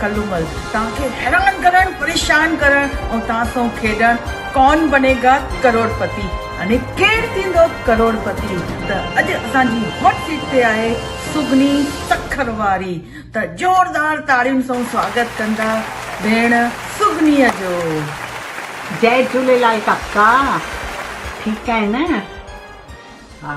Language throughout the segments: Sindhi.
ڪلومل توهان کي حيران ڪرڻ، پريشان ڪرڻ ۽ توهان سون کيڏڻ ڪون بني گا ڪروڙ پتي يعني ڪير ٿيندو ڪروڙ پتي ته اڄ اسان جي هاٽ سيٽ تي آهي سگني سکر واري ته زوردار تاڙين سون سواگت ڪندا ڀيڻ سگنيء جو. جئي جھوليلال ڪاڪا ٺيڪ آھين نه ھا.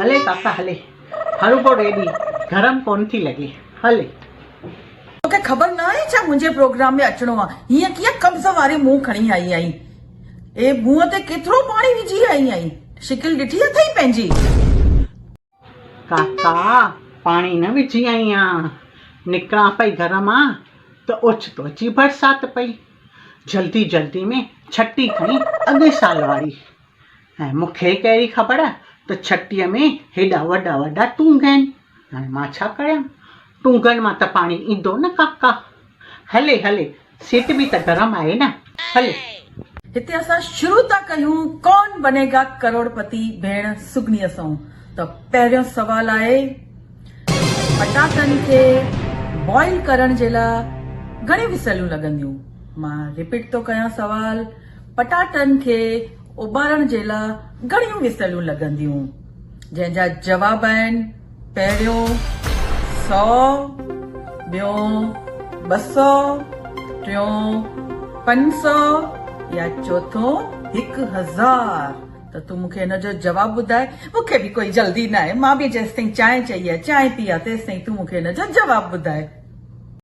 هلي ڪاڪا هلي. هروڀرو ريڊي گرم ڪونه ٿي لڳي. هلي. توکي خبر نه آهي ڇا منهنجي پروگرام ۾ اچڻو آ. هيئن ڪيئن قبض واري منهن کڻي آئي آهين. اي منهن تي ڪيترو پاڻي وجهي آئي آهين. شڪل ڏٺي اٿئي پنهنجي. ڪاڪا پاڻي نه وجهي آئي آهيان. نڪران پئي گهر مان ته اوچتو اچي برسات پئي. جلدي جلدي ۾ ڇٽي کڻي اڳئي سال واري. ۽ مون کي ڪهڙي خبر ته ڇٽيء ۾ هيڏا وڏا وڏا ٽونگ آهن. هاڻي مان ڇا ڪريان؟ ٽونگن مان ته پاڻي ايندو نه ڪاڪا. هلي هلي، سيٽ به ته گرم آهي نه. هلي. هتي اسان شروع ٿا ڪيون ڪون بنيگا ڪروڙپتي ڀيڻ سگنيء سون ته پهريون سوال آهي پٽاٽن کي بوائل ڪرڻ جي لا گهڻي وسيلون لڳنديون؟ مان رپيٽ ٿو ڪيان سوال پٽاٽن کي اٻارڻ جي لا گهڻيون مثلون لڳنديون جنهن جا جواب آهن پهريون سؤ ٻيون ٻه سؤ ٽيون پنج سؤ يا چوٿون هڪ هزار ته تون مونکي ان جو جواب ٻڌائي مونکي به ڪوئي جلدي ناهي مان به جيستائين چانهه چئي يا چانهه پيا تيستائين تون مونکي ان جو جواب ٻڌائي.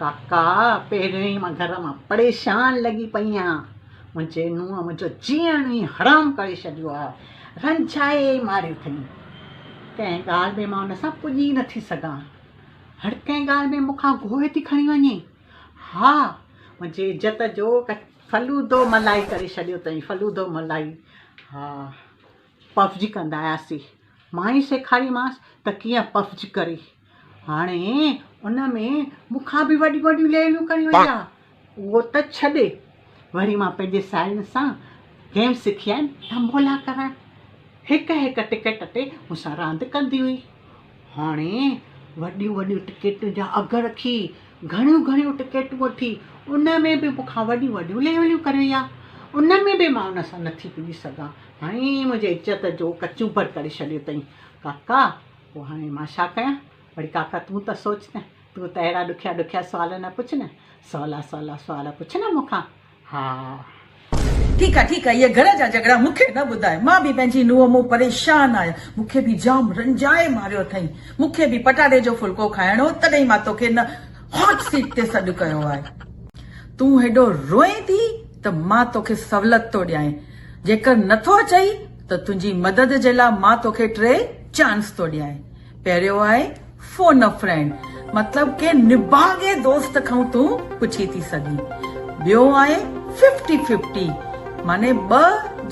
ڪاڪا پهريون ئي مان گهر مان پريشان لڳي پئي آهيان، منهنجي نونهن منهنجو جيئڻ ئي حرام ڪري ڇڏيو آهي، رنجائي ماريو اٿئي، ڪنهن ڳالهه ۾ مان ان سان پڄي ئي نٿي سگهان، هر ڪنهن ڳالهه ۾ مون کان گوهه ٿي کڻي وڃي، ها منهنجي عزت جو فلودو ملائي ڪري ڇڏيو اٿئي، فلودو ملائي، ها پفجي ڪندا آياسي، مان ئي سيکاريمانس ته ڪيئن پفجي ڪري. هاڻي ان ۾ مون کان به وڏيون وڏيون ليليون کڻي وئي آهي. اهو ته ڇڏ، وري مان پنهنجي ساهيڙين سان گيم سکي آيم تنبولا ڪرڻ. هڪ هڪ ٽڪيٽ تي مون سان راند ڪندي هئي. هاڻي وڏيون وڏيون ٽڪيٽن جا اگهه رکي، گهڻيون گهڻيون ٽڪيٽون وٺي، ان ۾ به مون کان وڏيون وڏيون ليليون ڪري وئي آهي. ان ۾ به مان ان سان نٿي پڄي سگهان. هاڻي منهنجي عزت جو ڪچونڀر ڪري ڇڏيو اٿئي. ڪاڪا پوء هاڻي مان ڇا ڪيان؟ وڙي ڪاڪا تون ته سوچ نه، تون ته اهڙا ڏکيا ڏکيا سوال نه پڇ نه، سولا سولا سوال پڇ نه مون کان. ها. ٺيڪ آ ٺيڪ آ، اهي گهر جا جهڳڙا مون کي نه ٻڌاء، مان به پنهنجي نونهن مون پريشان آهيان، مون کي به جام رنجائي ماريو اٿئين، مون کي به پٽاٽي جو ڦلڪو کائڻو هو، تڏهن ئي مان توکي هن هاٽ سيٽ تي سڏ ڪيو آهي، تون هيڏو روئين ٿي ته مان توکي سهولت ٿو ڏيانء، جيڪر نٿو اچئي، ته تنهنجي مدد جي لاء مان توکي ٽي چانس ٿو ڏيان. پهريون آهي فون ا فرينڊ مطلب ڪنهن نڀاڳي دوست کان تون پڇي ٿي سگهين. ٻيون آهي ففٽي ففٽي معني ٻه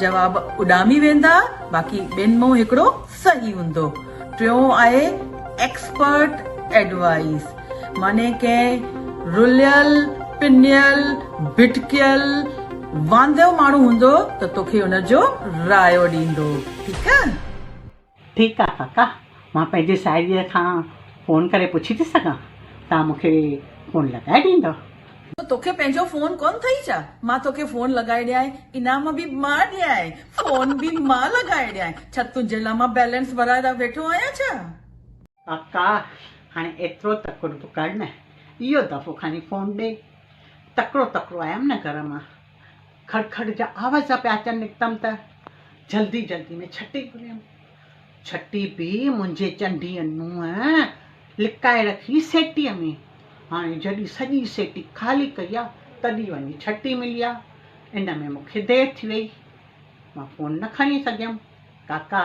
جواب اڏامي ويندا باقي ٻن مان هڪڙو صحيح هوندو. ٽيون آهي ايڪسپرٽ ايڊوائيس. معني ڪنهن رليل، پنيل، ڀٽڪيل، واندو ماڻهو هوندو ته توکي ان جو رايو ڏيندو. ٺيڪ آ؟ ٺيڪ آ ڪاڪا، مان پنهنجي ساهيڙيء کان فون ڪري پڇي ٿي سگهان، توهان مون کي فون لڳائي ڏيندؤ؟ توکي پنهنجو فون ڪونه ٿئي ڇا؟ مان توکي فون لڳائي ڏيانء، انعام به مان ڏيانء، فون به مان لڳائي ڏيانء، ڇا تنهنجي لاء مان بيلنس ڀرائي ويٺو آهيان ڇا؟ ڪاڪا هاڻي ايترو تڪڙ به ڪر نه، اهو دفعو کڻي فون ڏي. تڪڙو تڪڙو آيم نه گهر مان، کڙ کڙ جا آواز پيا اچن نڪتم ته جلدي جلدي ۾ ڇٽي گهريم. ڇٽي به منهنجي چنڊيء نونهن لڪائي رکي سيٽيء ۾. هاڻي جڏهن سڄي سيٽي خالي ڪئي آ، تڏهن وڃي ڇٽي ملي آ. ان ۾ مون کي دير ٿي ويئي. مان فون نه کڻي سگهيم. ڪاڪا!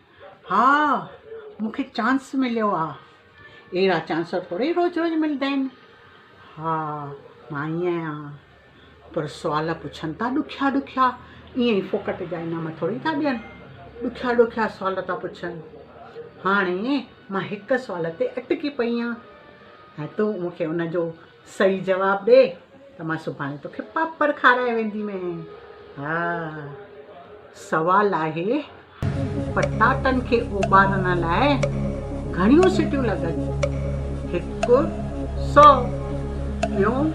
ها مون کي چانس مليو آ. اهڙا چانس ٿورئي روز روز ملدا آهن. ها مان ائين آهيان. پر سوال پڇن ٿا ڏکيا ڏکيا ائين ئي ڦوڪٽ جا انعام ٿورئي ٿا ڏين. ڏکيا ڏکيا سوال ٿا پڇن. هاڻي مان هڪ سوال تي اٽڪي پئي آهيان ۽ تون مون کي ان جو صحيح جواب ڏي ته مان سڀاڻي توکي پاپڙ کارائي ويندي مين ها سوال آهي پٽاٽن کي اوٻارڻ لاء گهڻيون سٽيون لڳن هڪ سو ٻيون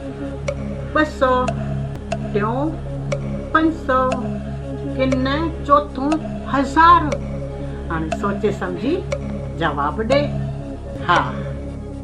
ٻه سو ٽيون پنج سو ڪن چوٿون هزار هاڻي سوچي سمجهي جواب ڏي ها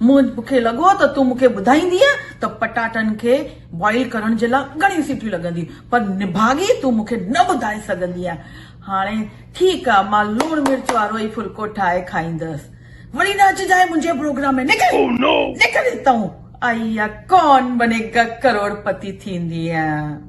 مون کي لڳو ته تون مون کي ٻڌائيندينء ته پٽاٽن کي بوائل ڪرڻ جي لاء گهڻيون سيٽيون لڳنديون، پر نڀاڳي تون مون کي نه ٻڌائي سگهندينء. هاڻي ٺيڪ آ، مان لوڻ مرچ وارو ئي ڦلڪو ٺاهي کائيندس. وڙي نه اچجانء منهنجي پروگرام ۾ نڪر، نڪر هتئون، آئي يا ڪون بني گا ڪروڙپتي ٿيندينء.